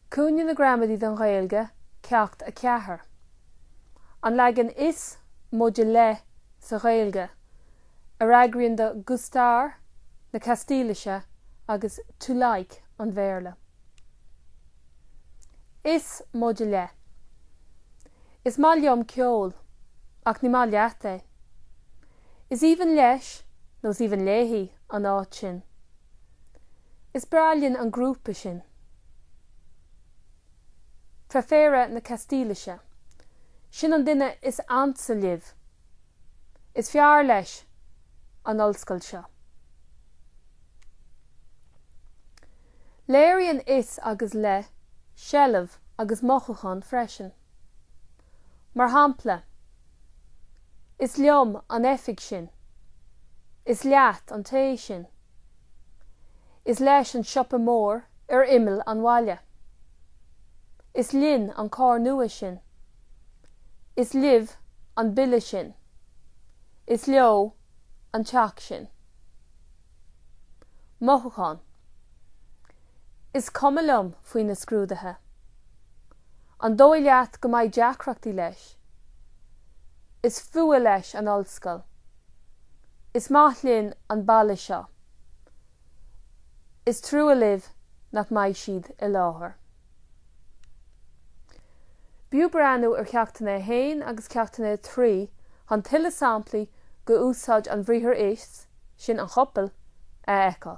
Cúinne na gramadaí don Ghaeilge, Ceacht 4. An leagan 'is', móide 'le' sa Ghaeilge, a fhreagraíonn do 'gustar' na Castaílise agus 'to like' an Bhéarla. 'Is', móide 'le'. Is maith liom ceol, ach ní maith leat é. Is aoibhinn leis, nó is aoibhinn léi. an áit sin. Is breá linn an grúpa sin. 'Preferir' na Castaílise. Sin an duine is ansa libh. Is fearr leis an ollscoil seo. Léiríonn 'is' agus 'le' seilbh agus mothúchán freisin. Mar shampla, Is liom an oifig sin. Is leat an tae sin. Is leis an siopa mór ar imeall an bhaile. Is linn an carr nua sin. Is libh an bille sin. Is leo an teach sin. Mothúchán, Is cuma liom faoi na scrúduithe. An dóigh leat go mbeidh deacrachtaí leis? Is fuath leis an ollscoil. Is maith linn an baile seo. Is trua libh nach mbeidh siad i láthair. B'fhiú breathnú ar Cheachtanna 1 agus Ceachtanna 3 chun tuilleadh samplaí de úsáid an bhriathair 'is', sin 'an chopail', a fheiceáil.